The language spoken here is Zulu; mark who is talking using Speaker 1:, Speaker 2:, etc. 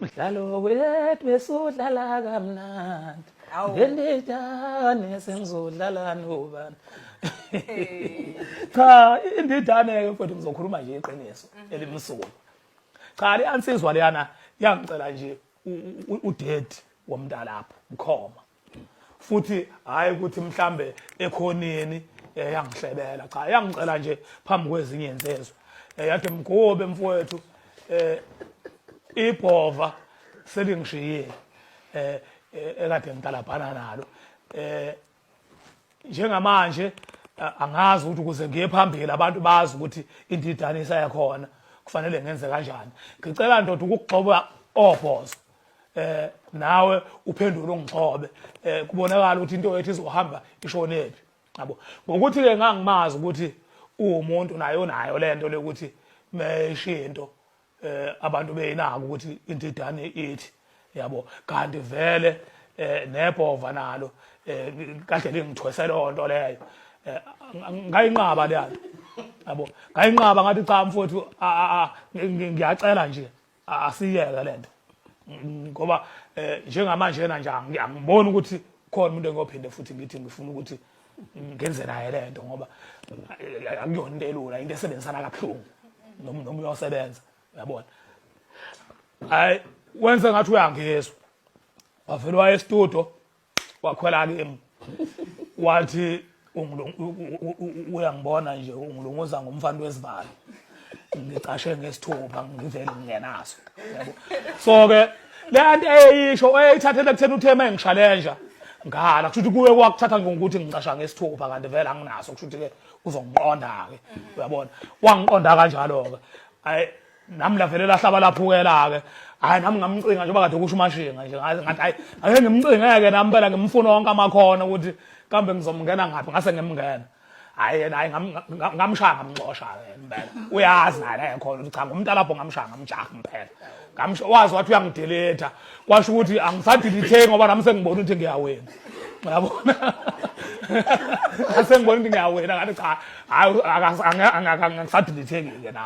Speaker 1: mdlalo wethu besudlala kamnandi ngendidane sengizodlala nobani cha indidane-ke mfowethu ngizokhuluma nje iqiniso mhm. elimsulwa cha le ansizwa leyana yangicela nje udedi womntalapho mkhoma futhi hayi ukuthi mhlambe ekhoneni eh, yangihlebela cha yangicela nje phambi kwezinye insizwe eh, yathi mgobe mfowethu eh ibhova selingishiyile eh, eh ekade ngitalabhana nalo eh njengamanje angazi ukuthi ukuze ngiye phambili abantu bazi ukuthi indidane isayakhona kufanele ngenze kanjani ngicela ndoda ukugxoba obhozo eh nawe uphendule ungigxobe eh kubonakala ukuthi into yethu izohamba ishonephi yabo ngokuthi ke ngangimazi ukuthi uwumuntu naye unayo lento lokuthi meshinto eh abantu beyinaka ukuthi indidane ithi yabo kanti vele eh nebhova nalo eh kahle lingithwese lonto leyo eh, ngayinqaba le yanto yabo ngayinqaba ngathi cha mfowethu ngiyacela nje asiyeke lento ngoba eh, njengamanje yena nje angiboni ukuthi khona umuntu engophinde futhi ngithi ngifuna ukuthi ngenze naye le nto ngoba eh, akuyona into elula into esebenzisana kabuhlungu noma uyosebenza uyabona hayi wenze ngathi uyangizwa wavele waye estudio wakhwela kimi wathi uyangibona nje ungilunguza ngomfana wezibalo ngicashe ngesithupha ngivele ngingenaso yabo so ke le anti eyisho eyithathele kuthena uthe uma engishalenja ngala kusho ukuthi kuwe kwakuthatha ngokuthi ngicasha ngesithupha kanti vele anginaso kusho ukuthi ke uzongiqonda-ke uyabona wangiqonda kanjalo-ke ayi nami lavele lahlaba laphukela-ke hayi nami ngamcinga njengoba kade kusho umashinga nje ngathi hayi ake ngimcingeke nami phela ngimfuna wonke amakhono ukuthi kambe ngizomngena ngaphi ngase ngimngena hayi yena hayi ngamshaya ngamxosha impela uyazi naye naye khona ukuthi cha ngumntalabho ngamshaya ngamjaha impela ngamsho wazi wathi uyangideleta kwasho ukuthi angisadeletheki ngoba nami sengibona ukuthi ngiyawena uyabona asengibona ukuthi ngiyawena ngathi cha hayi angisadeletheki-ke nami